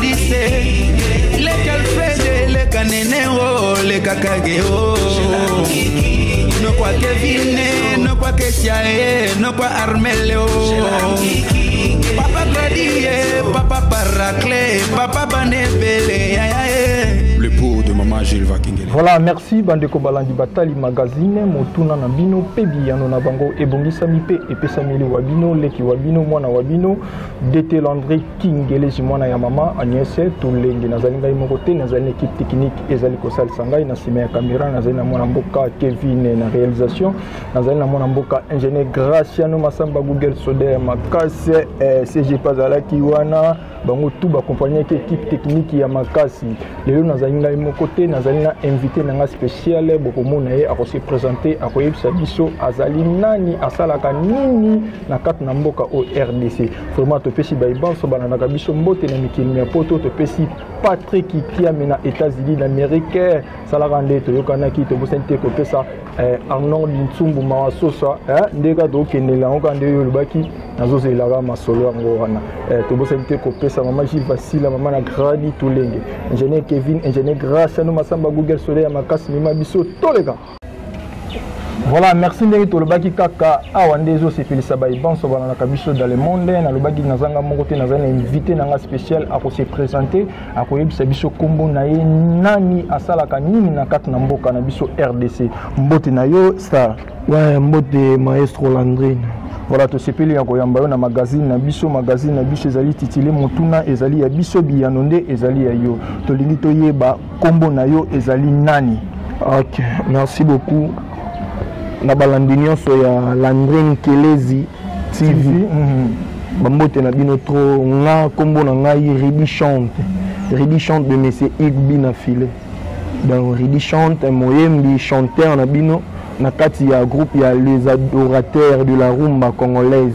dise leka alfred leka nene o leka kage o nokwa kevine nokwa kesia e nokwa armele o papa gradie papa paracle papa banebele yaya e le pour de mama jules vakingele voilà merci bandeko balandi batali magazine motuna na bino mpe biyano na bango ebongisami mpe epesameli wa bino leki wa bino mwana wa bino dete landri kingeleji mwana ya mama agnese tolengi nazali ngai moko te nazali na équipe technique ezali kosalisa ngai na nsima ya camera nazali na mwana mboka kevin na réalisation nazali na mwana mboka ingénieur graciano masamba google soder makasi eh, cgp azalaki wana bango tu bakompagnaki équipe technique ya makasi lelo nazali ngai moko te nazali na invité na ngai spécial bokomona ye akose présente akoyebisa biso azali nani asalaka nini na kati na mboka oyo rdc vraiment topesi baye banso balandaka biso mbote na mikili mya poto topesi patrik kiame na états-unis d'amérique salaka nde toyokanaki tobosani te kopesa eh, arnold nsumbu mawa sosa eh, nde kaka tokendela yango kaka nde oyo olobaki nazozelaka masolo yango wana eh, tobosani te kopesa mama gil vasila mama na gradi tolenge ingénieur kevin ingénieur grace ano masamba google soleil ya makasi mema biso toleka voilà merci ndenge tolobaki kaka awa nde ezosepelisa baye banso balandaka biso dans le monde nalobaki nazanga moko te nazali na invité na nga spécial akose présente akoyebisa biso nkombo na ye nani asalaka nini na kati na mboka na biso rdc mbote na yo star ouais, mbote maestro landrine voilà tosepeli ya koyamba yo na magazine na biso magazine na biso ezali titile motuna ezali ya biso biyano nde ezali ya yo tolingi toyeba Kombo na yo ezali nani? Ok, merci beaucoup. Na balandi nyonso ya Landrine Kelezi TV. TV. Mm -hmm. bambote na bino trop nga nkombo na ngai ridi chante ridi chante de monsieur igbi na filet donc ridi chante moyembi chanteur na bino na kati ya groupe ya les adorateurs de la rumba congolaise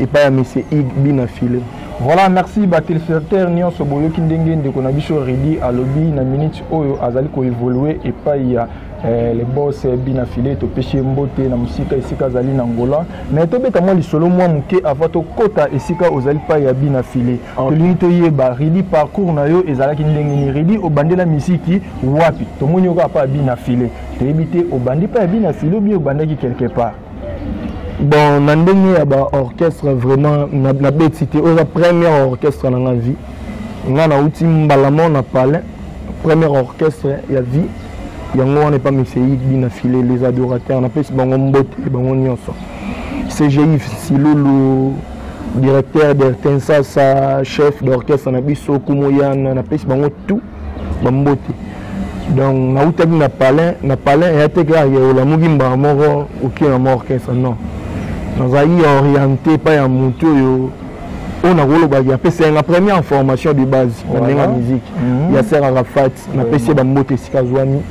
epai ya monsieur igbi na filet Voilà, merci ba téléspectateurs nionso boyoki ndenge ndeko na biso Ridi alobi na minute oyo azali ko évoluer epai ya eh, le boss eh, bina filet topesi ye mbote na mosika esika azali na ngola mais tobeta mwa lisolo mwa moke ava tokɔta esika ozali pai ya bina filet okay. tolingi toyeba ridi parcours na yo ezalaki ndenge nini ridi obandela miziki wapi tomoni yo kaka pa ya bina filet toyebi te obandi pa ya bina filet obi obandaki quelque part bon na ndenge ya baorchestre vraiment nabeti te oyo eza première orchestre na nga vie nga nauti mbala mo na palin première orchestre ya vie yango wana epa meseidi na file les adorateurs napesi bango mbote bango nyonso cgi silulu directeur d'ertensasa chef d'orchestre na biso kumoyana napesi bango tout bambote donc nautaki na palin na palin eya te kaka olamuki mbala moko okie na mwa orchestre non nazalaki orienté epai ya motu oyo oyo nakolobaki apesaki nga première information de base na ndenge ya musique mhm. ya ser arafat napesi ye bambote esika azwami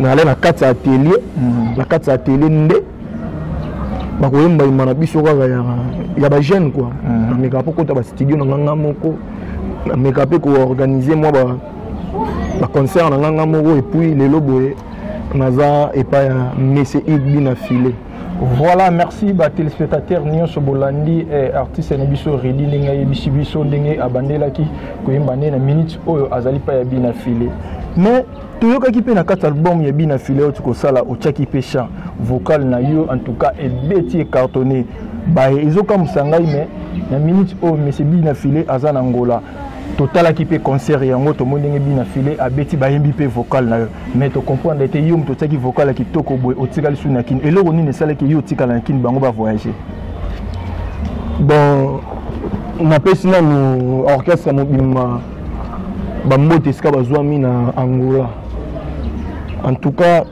nale na kati ya atelier mhm. na kati ya atelier nde bakoyemba yemba na biso kaka ya bajeune kua mhm. namekaka mpo kota bastudio na nganga moko nameka mpe koorganize mwa baconcert na nganga moko epuis lelo boye naza epai ya mese igbi na filet voilà merci batelespectateur nyonso bolandi eh, artiste na biso redi ndenge ayebisi biso ndenge abandelaki koyemba nde na minute oyo azali mpa ya bina file mais toyokaki mpe na kati album ya bina file oyo tikosala otyaki mpe chant vocal na yo en tout cas ebeti ecartonne baye ezokamwisa ngai me na minute oyo mese bina file aza na ngola totalaki mpe concert yango tomoni ndenge bina file abeti bayembi mpe vocal na yo mais tocomprendre ete yo moto otyaki vocal ya kitoko boye otikali su na kini eloko nini esalaki yo otikala na kini bango bavoyage bon napesi nanu orchestre mobima bambote esika bazwami na angola en tout cas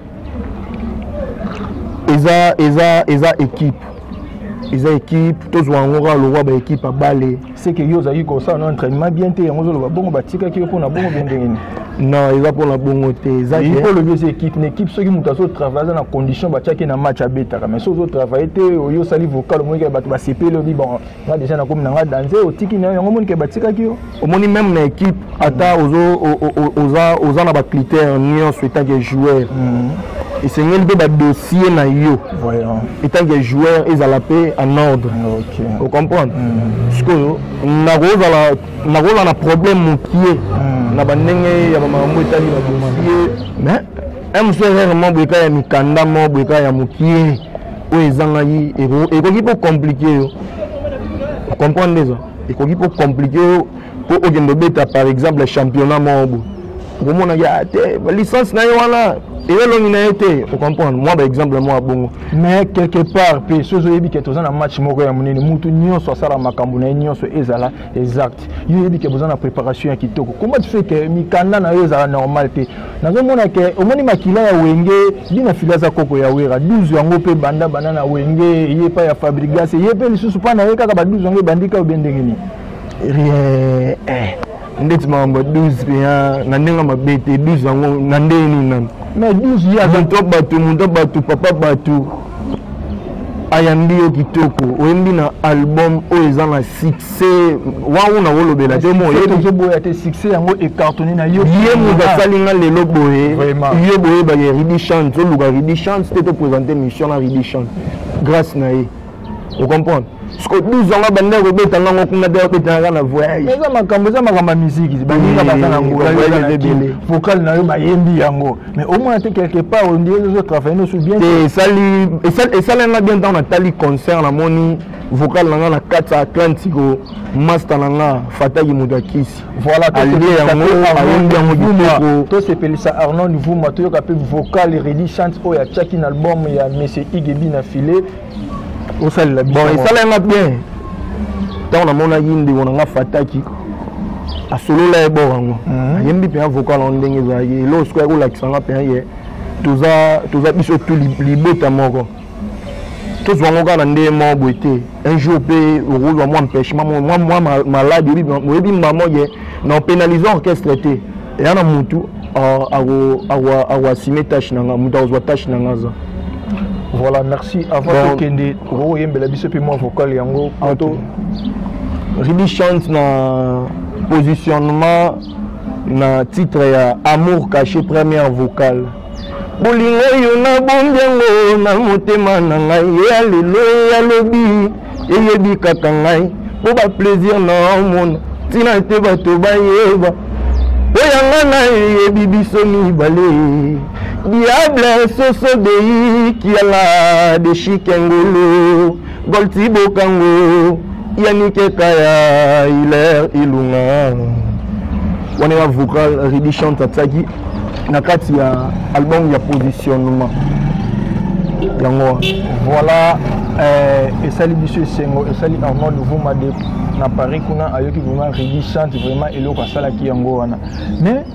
eza eza eza équipe eza équipe tozwa yango kaka lokwa baéquipe ya bale seke yo ozalaki kosala na entraînement bien te yango ozoloba bongo batikaki yo mpo na bongo bien ndenge nini non eza mpo na bongo te ezaipo olobi eza équipe na équipe soki moto azotravaille aza na condition batiaki na match abetaka mais soki ozotravaille te oyo osali vocal omoniki ya bato basepeli obi bon nga deja nakomi na nga danze otiki nayo yango omoni ke batikaki yo omoni meme na équipe ata oza na bacritère nyonso etanke joueur mhm. esengeli mpe badossier na yo etanke joueur ezala mpe en ordre ocomprendre mhm. sikoyo nakozala na problème mokie mhm. na bandenge ya bamakambo etali badossier mais un mosusu erreur mo boyeka ya mikanda mo boyeka ya mokie oyo ezangaki ekoki mpo komplike yo comprendre nde eza ekoki mpo komplike yo mpo okende obeta par exemple championnat moko boye okomonaki ah, te licence na ye wana eye elongi na ye te ocomprendre mwa baexemple mwa bongo mais quelque part mpe soki oyebi ke toza na match moko ya monene mutu nyonso asala makambo na ye nyonso ezala exact yo oyebi ke boza na préparation ya kitoko comment tu fais ke mikanda na yo ezala normal te nazomona ke omoni makila ya wenge bina fili aza koko ya wera 12 yango mpe banda banda na wenge eye epai ya fabrigas eye mpe lisusu mpa na ye kaka ba 12 yango ebandi kaka obe ndenge nini rien eh. ndeti makambo 12 mpenza na ndenge mabe te 12 yango na ndenge nini nani mais 12 ye aza bato moto bato papa bato ayambi yo kitoko oyembi na album oyo eza na succès wango na kolobela te moyebizoboya te succès yango ecartone na yo ye moto asali nga lelo boye yo boyebaka ya ridi chance oluka ridi chance te topresente mission na ridi chance grâce na ye ocomprendre siko 12 ans banda kobeta ngango kuna te babetanaka na voyage eza makambo eza makambo ya miziki baninga baza na ngola vocal na yo bayembi yango mais au moins te quelque part on dirait ozo travailler no sous bien te esali esali nga bien temps na tali concert na moni vocal na nga na kati ya atlantico master na nga fataki moto ya kisi voilà alie yango ayembi yango kitoko tosepelisa arnold vuma toyoka mpe vocal redi chante oyo atiaki na album ya monsieur igebi na filet osalela bon esalai nga bien ntango namonaki ndeko na nga fataki asolola ye bor yango mhm. ayembi mpenza vocal yango ndenge ezalaki eloko sikoyo akolakisa nga mpenza ye toza biso tu libota moko tozwa yango kaka na ndenge moko boye te un jour mpe okozwa mwa mpechement mwa malade oyebi mama ye na opénalise orchestre te eya na mutu akoasime tâche na nga mutu akozwa tâche na nga aza voilà merci avant bon, tokende okoyembela biso mpe mwa vocal yango poto ribi chante na positionnement na titre ya amour caché première vocale bolingo yo na bombi yango na motema na ngai ya lelo ya lobi eyebi kaka ngai mpo baplaisir na omona ntina te bato bayeba mpo yanga na eyebi biso mibale diable soso dei kiala de chikengolo golti bokango yanike kaya hilaire ilunga wana ya vocal redi chante atiaki na kati ya album ya positionnement yango wana voilà eh, esali biso esengo esali armand luvuma de na paris kuna ayoki vraiment redi chante vraiment eloko asalaki yango wana mais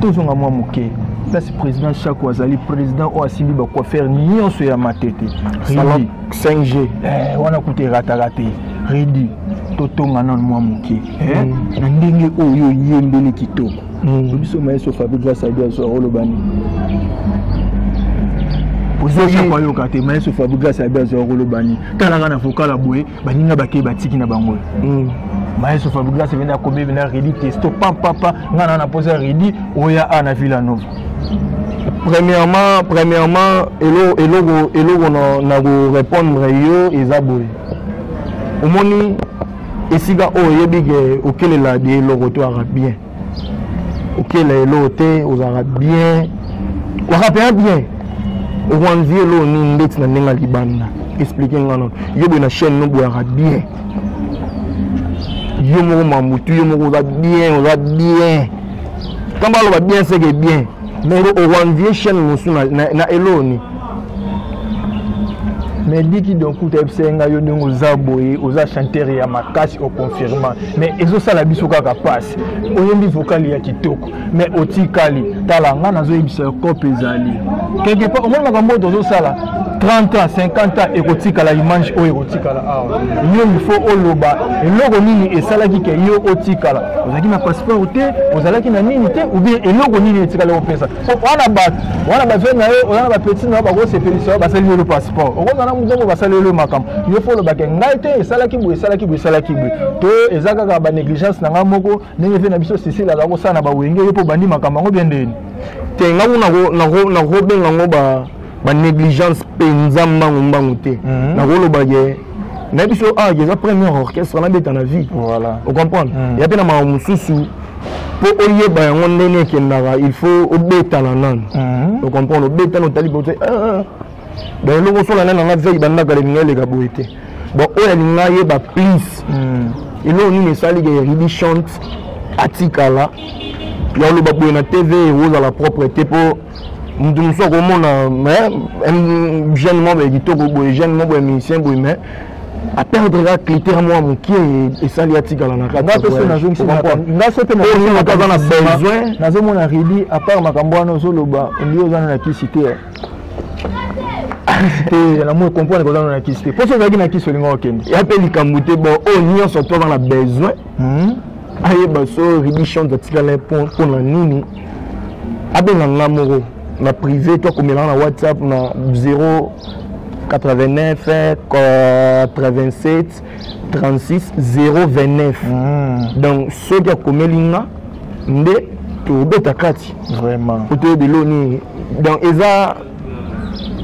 tozonga mwa moke place président chako azali président oyo asimbi bacoiffere nyonso ya matete 5g eh, wana kuta erataka te redi totonga nano mwa moke eh, mm. na ndenge oyo oyembeli kitoko hmm. biso maestro fabi grâce aide azo olobani ozoyoka te maestro fabi grâce aide azo olobani talaka na vokala boye baninga bakei batiki na bango hmm. maestro fabi grâce ebenda akomi ebenda redi testo pampapa ngai na na mposa redi oya a na villa nova premièrement premièrement eloko eloko eloko na ko répondre yo eza boye omoni esika oyo oyebi ke okelela de eloko te ozalaka bien okelela eloko te ozalaka bien ozalaka mpenza bien okoanvi eloko nini ndeti na ndenge ya libanda explike nga nono yo boye na chaîne no boyaka bien yo moko mamutu yo moko oza bien oza bien kamba aloba bien seke bien mais okoanvie chaîne mosusu na eloko nini mais diki donc kuta yebisa ye ngai yo ndenge oza boye oza chanteur ya makasi oconfirma mais ezosala biso kaka mpasi oyembi vokali ya kitoko mais otikali tala ngai nazoyebisa yo cope ezali quelque part omoni makambo oyo tozosala 30 ans 50 ans ekotikala image oyo ekotikala awa yo il faut oloba eloko nini esalaki ke yo otikala ozalaki na passeport te ozalaki na nini te ou bien eloko nini etikala opesa wana bato wana bavie na yo oza na bapeti na yo bakosepelisa yo basali yolo passeport okozala na mokongo basali yolo makambo yo fo olobake ngai te esalaki boye esalaki boye esalaki boye to eza kaka banégligence na ngai moko ndenge vie na biso sisile azala kosala na bawenge yo mpo obandi makambo yango bie ndeni te ngai nakobenga yango ba ba négligence penza mbangu mbangu te mhm. nakoloba ke na biso awa ah, eza premier orchestre nabeta na vie voilà. ocomprendre mhm. ya mpe na mawa mosusu mpo oyeba yango ndenge ekendaka il faut obetana nanu mhm. ocomprendre obetana otali bote eh, eh, eh. donc eloko osola nani nanga vei bandaka lelinga eleka boye te bon oyo alinga ayeba please eloko nini esali ke ribi chante atikala ya oloba boye na tv ekozala propre te mpo moto mosusu akomona jeune moko boye kitoko boye jeune moko boye musicien boye mais aperdre ka clitere mwa moke esali atikala na katinazomona redi apart makambo wana ozoloba ondi oza na kisi te te na moi comprendre kozana na kisi te mposo ozalaki na kisi olinga okende ya mpe likambo te bon oyo nyonso to aza na besoin hmm? ayeba so ribi chante atikala mpo na nini abenga nga moko na privé to akomelaka na whatsapp na 0 89 87 36 029 mm. donc soki akomeli nga nde tobeta kati vraiment otoyebi elo nini donc eza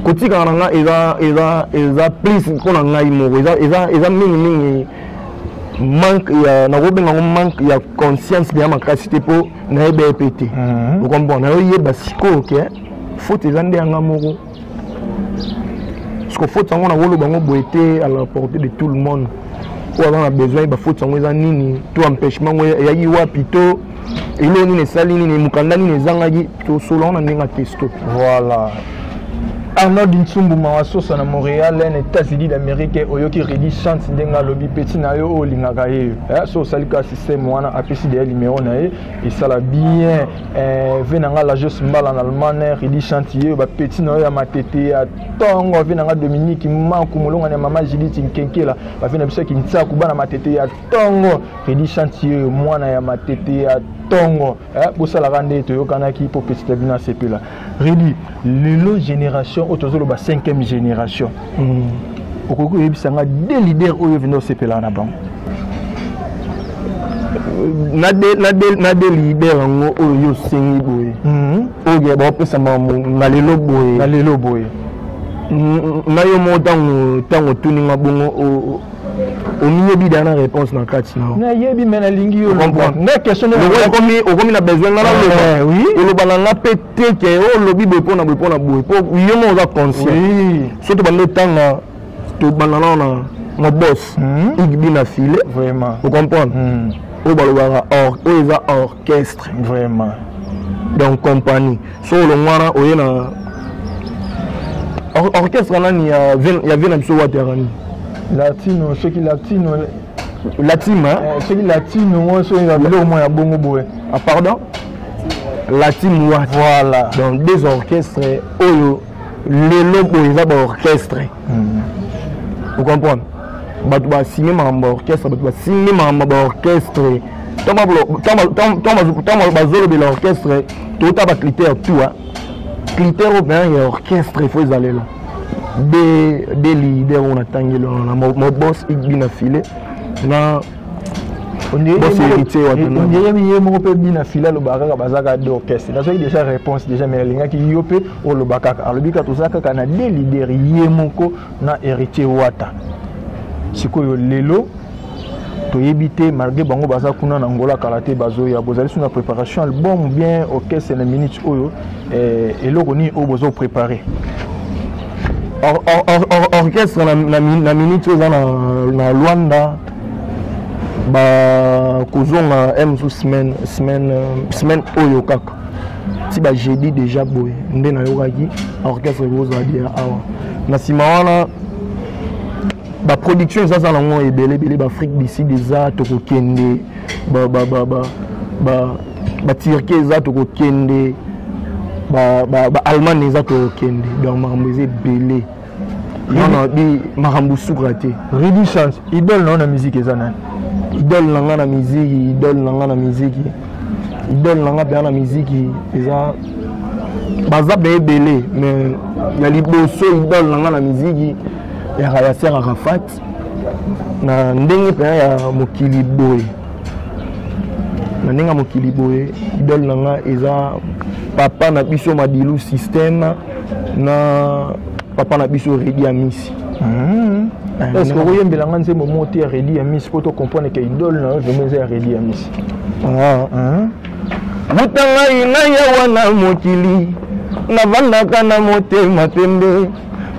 kotikaka na nga eza eza eza plus mpo na ngai moko eza eza eza mingi mingi manque ya nakobenga yango manque ya conscience deya makasi te mpo nayeba ye mpe te mhm. okomprendre nayo yeba sikoyo ke faute eza nde yanga moko parceke faute yango nakoloba yango boye te à la portée de tout le monde oyo aza na besoin yeba faute yango eza nini to empêchement yango eyaki wapi to eloko nini esali nini mokanda nini ezangaki tosolola na ndenge ya testo voilà arnold nsumbu mawa sosa na montréal na états-unis d'amérique oyoki redi chante ndenge alobi peti na yo oyo olingaka ye eh, so osali kaka système wana apesi deya limero na ye esala bien eh, ve na nga lajos mbala na allemagne redi chante ye bapeti na yo ya matete ya ntongo ve na nga dominique maku molongani ya mama judith nkenkela bave na biso ya kinsaku bana matete ya tongo Freddy Chanti yeyo mwana ya matete ya tongo eh, bosalaka nde toyokanaki mpo petite bino asepela Redi lelo génération oyo tozoloba 5e génération mm. okoki koyebisa nga de leader oyo vende osepelaka na bango na de leader yango oyo yo osengi boye mm-hmm. oyo baopesa na lelo boye na lelo boye na yo moko ntango ntango otuninga bongo omiyebi da na réponse na kati na nayebi me nalingi yo nga question okomi okomi na besoin nga naloba eh, oloba na nga mpe te ke olobi boye mpo na boye mpo na boye mpo yo moko oza conscient soki tobanda otanga tobanda nao na na boss hmm? igbi na filet ocomprendre hmm. oyo balobaka or oyo eza or orchestre vraiment donc compagnie so olongwana oye na orchestre nani ya vie na biso watera nini latino soki latino latino eh, soki latino ngo soki na biloko moko ya bongo boye ah, pardon latino wat voilà donc des orchestres oyo lelo boye eza baorchestre hmm. ocomprendre bato basinye makambo ya orchestre bato basinye makambo ya baorchestre ntango bazolobela orchestre tokota bacritère tout critère oyo mpenza ya orchestre ifo ezalela de leader oyo natangeli wana na mobos igbi na filet na ye moko mpe bina fila alobaka kaka baza kaka de orchestre nazwaki déjà réponse déjà mais nalingaki yo mpe oloba kaka alobi kaka toza kaka na de leader ye moko na héritier wata sikoyo lelo toyebi te malgré bango baza kuna na ngola kala te bazoya bozali so na préparation album bien orchestre na minute oyo eh, eloko nini oyo bozo préparer orchestre na minute oyo eza na luanda bakozonga eh, mzu semaine semaine euh, semaine oyo kaka ti bajeudi déjà boye nde nayokaki orchestre ekozala dia awa na nsima wana baproduction ezaza nango ebele ebele baafrique du sud eza tokokende baturquie eza tokokende baallemagne eza tokokende donc makambo eza ebele non non bi makambo suka te redi chance idole na yo na miziki eza nani idole na nga na miziki idole na nga na miziki idole na nga mpenza na miziki eza baza mpe ebele mais ya liboso idole na nga na miziki yaka ya ser arafat na ndenge mpenza ya mokili boye na ndenge ya mokili boye idole na nga eza papa na biso madilu systeme na papa na biso redi ya misi hmm. eh, est-ce que okoyembela nga nzembo moko te ya redi ya misi mpo tocomprendre ke idole na yo vraimen eza ya redi ya misi ah. hmm. buta ngai ngai awa na mokili navandaka na motema pembe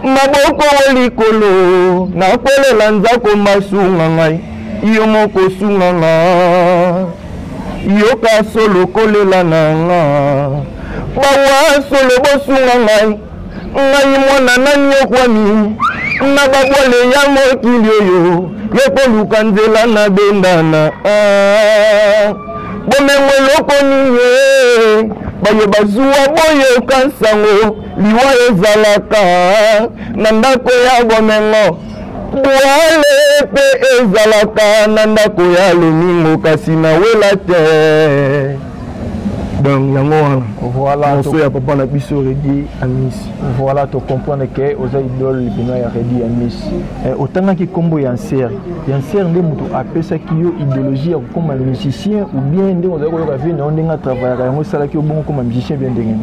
maboko o likolo nakwelela nzako masunga ngai yo moko sunga ngai yoka solo kolela na nga bawa solo bosunga ngai ngai mwana nani yokwami na babwale ya mokili oyo yokoluka nzela na bendana ah, bomengo eloko nini eh? baye bazuwa boyoka nsango liwa ezalaka na ndako ya bomengo Bwale mpe ezalaka na ndako ya lomingo kasi na wela te donc yango wana voilà moso ya papa na biso redi amis voilà to comprendre ke oza idole libino ya redi amis eh, otangaki nkombo ya nser ya nser nde moto apesaki yo idéologie ya kokoma musicien ou bien nde ozali koyoka vie na yo ndenge atravaillaka yango esalaki yo bongo koma musicien bien ndenge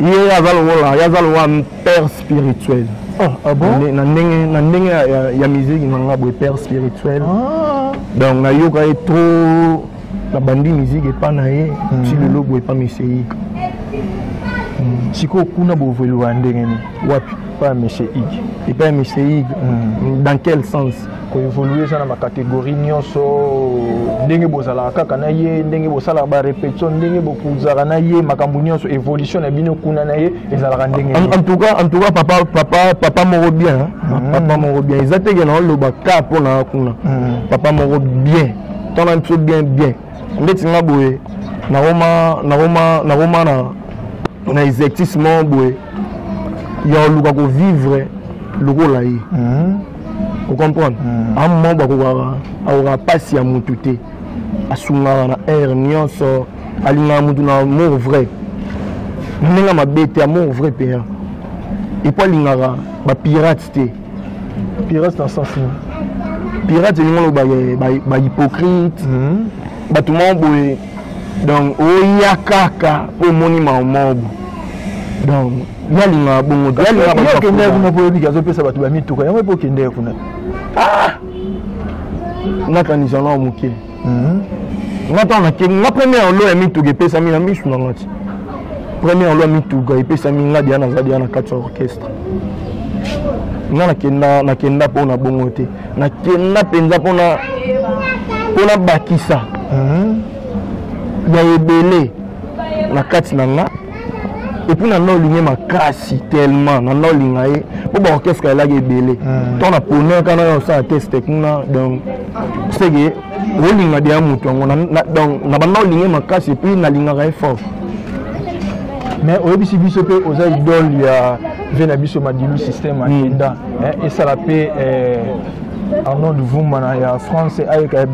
ye aza lokola ye aza lokola père spirituel ah, ah bon? na ndenge na ndenge ya, ya, ya miziki na nga boye père spirituel ah. donc nayoka ye trop nabandi miziki epa na ye hmm. ti lelo boye epa mesei hmm. sikoyo kuna bovelua ndenge nini wapi epa ya mesei epa ya mesei hmm. dans quel sens koevolue eza na bacategorie nyonso ndenge bozalaka kaka na ye ndenge bosalaka barepetition ndenge bokozalaka na ye makambo nyonso évolution na bino kuna na ye ezalaka ndenge en tout cas en tout cas papa papa papa moko bien mm. papa moko bien eza teke na oloba ka mpo na kuna mm. papa moko bien tana biso bien bien ndeti nga boye nakoma nakoma nakoma na na exercice moko boye ya koluka kovivre lokola ye mm. ocomprendre mm. a moment bakokaka akokaka mpasi ya motu te asungaka na aire nyonso alingaka motu na amour vrai na ndenge mabe te amour vrai mpenza epo alingaka bapirate te pirate na sens pirate elingi oloba bahypocrite bato moko boye donc oya kaka mpo omoni maomobo donc yalinga bongo te yalinga bato okendee kuna mpo oyebi azopesa bato bamituka yango mpe okendee kuna ah! nakanisa nao moke mhm. nga ntango nakengi nga première lo ya mituka epesami na misu na nga ti première lo ya mituka epesami nga deya naza deya na kati ya orchestre nga nakenda nakenda mpo na bongo te nakenda mpenza mpona mpona bakisa mhm. ya ebele na kati na nga epuis na naolinge makasi tellement na naolinga ye mpo baorchestre elaki ebele mhm. ntango na ponaka na osala teste kuna donc seke olinga deya moto yango donc na banda olinge makasi epuis nalingaka ye fort mais oyebisi biso mpe oza idole ya vie na biso madilu système ayenda hmm. esala mpe eh, arnold vumana ya france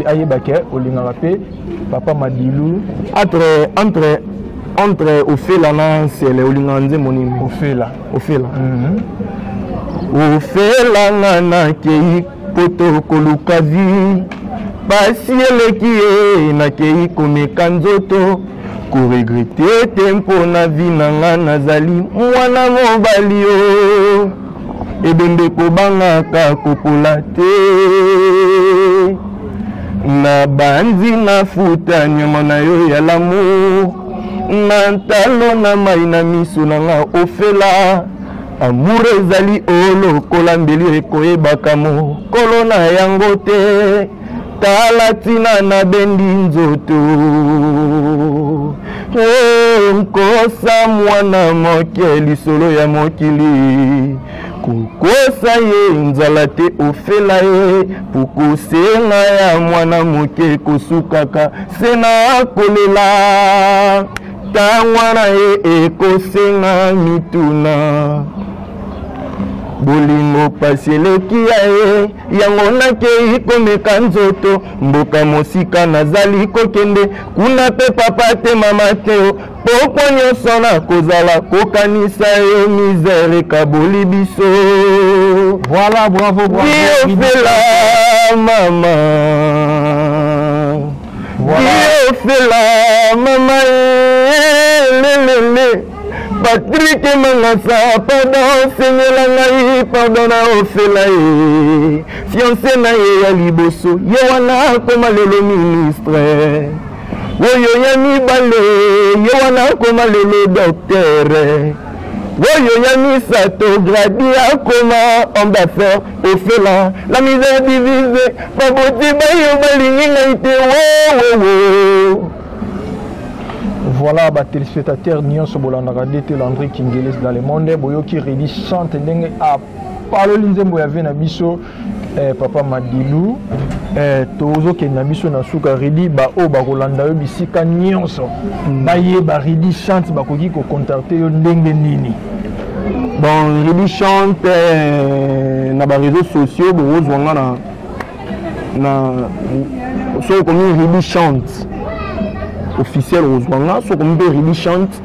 ayebake olingaka mpe papa madilu entre entre entre ofela na nsele olingaka nzembo nini ofela ofela mm -hmm. ofela nga nakei poto koluka vi basi eleki ye nakei komeka nzoto koregrete te mpo na vi na nga nazali mwana mobali yo ebembe kobangaka kopola te na banzi na futa nyama na yo ya lamour na ntalo na mai na miso na nga ofela Amour ezali olokola mbeli ekoyebaka mokolo na yango te tala ntina na bendi nzoto eh, nkosa mwana moke lisolo ya mokili kokosa ye nzala te ofela ye pokosenga ya mwana moke kosukaka se na kolela Tangwa na ye ekosenga mituna bolingo pasi eleki ya ye yango nakei komeka nzoto mboka mosika nazali kokende kuna mpe papa te mama te pokwa nyonso nakozala kokanisa yo misere ekaboli biso voilà bravo bravo biofela mama biofela mama lelele patrike mangasa pardon sengela ngai pardon na ofela ye fianse na ye ya liboso ye wana akoma lelo ministre oyo ya mibale ye wana akoma lelo doktere Oyo ya misato gradi akoma homme d'affaires ofela la misère divise baboti bayo balingi ngai te wowowo voilà ba téléspectateurs nyonso bolandaka dete landri kingeles dans le monde boyoki redi chante ndenge paloli nzembo ya vie na biso eh, papa madilu eh, tozokende na biso na suka ridi baoyo bakolanda yo bisika nyonso mm. bayeba ridi chante bakoki kocontacte yo ndenge nini bon ridi chante eh, na bareseau sociaux bokozwa nga na na soki okomi ridi chante officiel okozwa nga soki okomi mpe ridi chante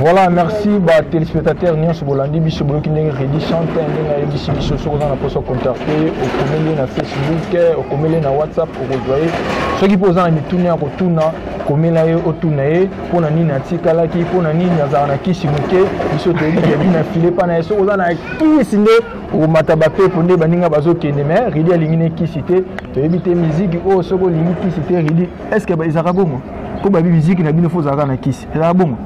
Voilà, merci ba téléspectateurs nyonso bolandi biso boyoki ndenge Reddy chante ndenge ayebisi biso soki oza na poso contacte okomeli na Facebook okomeli na WhatsApp okozwa ye soki mpe oza na mituna ya kotuna komela ye otuna ye mpo na nini atikalaki mpo na nini azalaka na kisi moke biso toyebi kebi na file mpa na ye soki oza na kisi nde okomata bapepo nde baninga bazokende me Reddy alingi ne kisi te toyebi te miziki oyo oh, soki olingi kisi te Reddy est ce que ezalaka bongo mpo babi miziki na bino fo ozalaka na kisi ezala bongo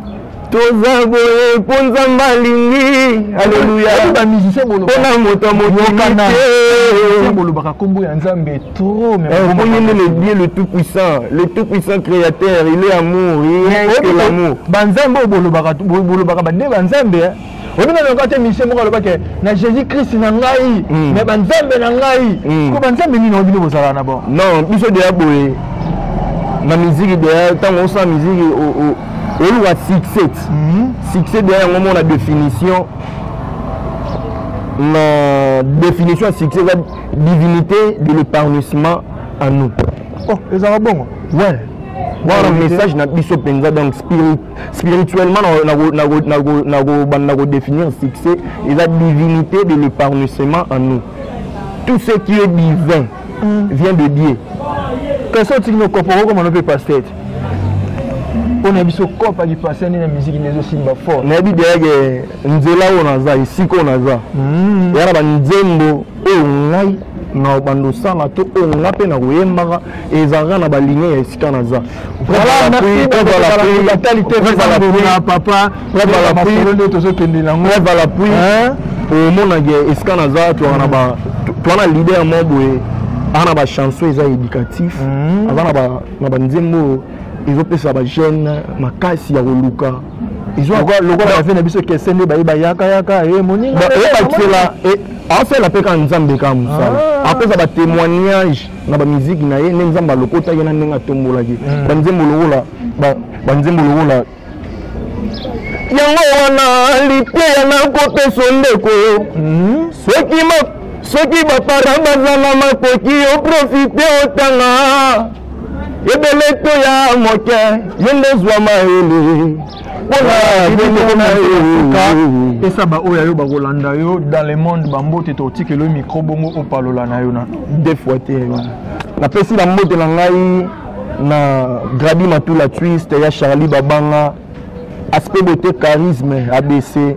toza boye mpo nzambe alingi aleluyampona moto ya motobolobaka nkombo ya nzambe tromoni eh, nde le dieu le tout puissant le tout puissant créateur il est amour il est l'amour banzambe oyo bolobaka nde banzambe oyebi na loka te misie moko aloba ke na jésus christ na ngai hmm. na banzambe na ngai hmm. ko banzambe nini oyo bino bozalaka na bango non biso deya boye na miziki deya ntango osala miziki oluka succès hmm. succès deya yango mona définition na définition ya succès eza divinité de l'épanouissement à nous oh ezalaka bongo ouais wana message na biso mpenza donc spirit spirituellement nakobanda kodefinir succès eza divinité de l'épanouissement en nous tout ce qui est divin mm. vient de dieu kasi otiki nokopa okokoma no mpe pasteur te mpo na biso kopa kipasteur nde na miziki nde ezosimba fort nayebi deyake nzela oyo naza esika oyo naza mm. eya na banzembo oyo ngai na obandosana to oyo nga mpe na koyembaka ezalaka na balinge ya esika naza tozokende nango omonake esika naza toaka na toa na leader mo boye aza na bachanson eza éducatif mhm. aza na banzembo ezopesa bajeune makasi ya koluka lokola bafe na biso kese nde baye bayakayaka eh, moningaobakisela eh, eh, asala mpe kaka nzambe kaka mosala ah. apesa batémoignage na bamiziki na ye nde nzambe alokotaki na ndenge atombolaki hmm. banzembo lokola banzembo lokola yango wana liteya nakopeso ndeko hmm. soki soki bapara baza na makoki oprofite otanga ebele to ya moke ye nde zwa mayele pesa baoyo yo bakolanda yo dans le monde bambote totikelo micro bongo opalola na yo na de fois te napesi na mbote na ngai na gradi matula twist ya charlie babanga aspect beauté charisme abc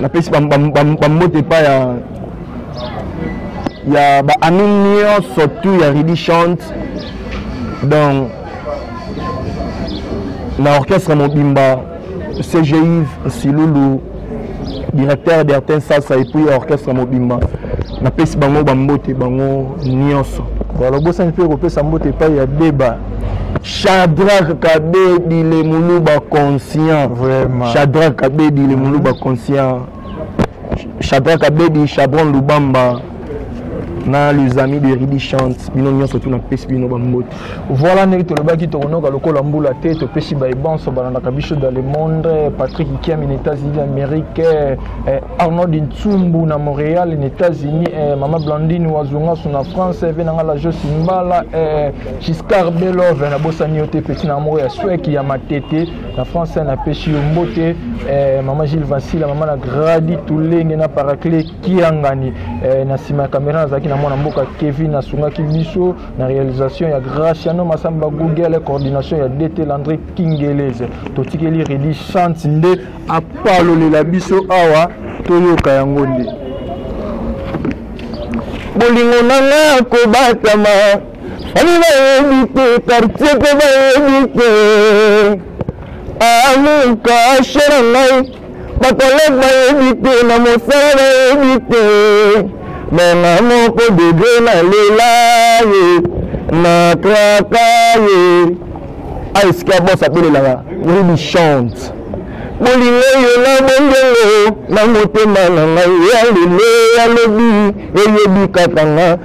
napesi bambote epai ya ya baami nyonso tu ya ridi chante donc na orchestre mobimba cgive silulu directeur d'ertin sasa epuis orchestre mobimba napesi bango bambote bango nyonso balobosani mpe kopesa mbote epai ya deba Shadrach Kabedi le Muluba conscient. Vraiment. Shadrach Kabedi le Muluba mm-hmm. conscient. Shadrach Kabedi, Chabron Lubamba. na les amis de ridi chante bino nyonso tuna pesi bino bambote voilà ndenge tolobaki tokonoka lokola mbula te topesi baye banso balandaka biso dans le monde patrick kiami na états-unis d'amérique eh, arnold ntsumbu na montréal na états-unis eh, mama blandine wazungasu na france eh, venanga la josi mbala Giscard Belove na bosani yo te petit na moko ya swek ya matete na france na peshi yo mbote eh, mama Gilles Vassila mama na Gradi Tulenge na Paracle Kiangani eh, na sima ya kamera nazalaki na mwana mboka Kevin asungaki biso na realisation ya Graciano Masamba Google coordination ya DT Landry Kingeleze totikeli Redi Chance nde apalolela biso awa toyoka yango nde bolingo na nga kobatama Ami bayebi te quartier mpe bayebi te amuka ashe na ngai bakolege bayebi te na mosala bayebi te mama moko dede na lela ye na kraka ye aesika bos apelelaka oyebi chante bolingo yo na bongengo na motema na ngai ya lelo ya lobi eyebi kaka nga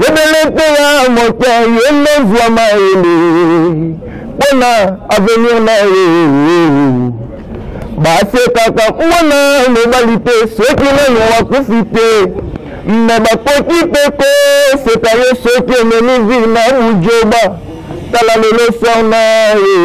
yebelete ya moto yende zwa mayele mpo na avenir na ye basekaka mwana mobali te soki nani wakufi te me bakoki mpe koseka ye soki omemi vi na bujoba tala lelo sona ye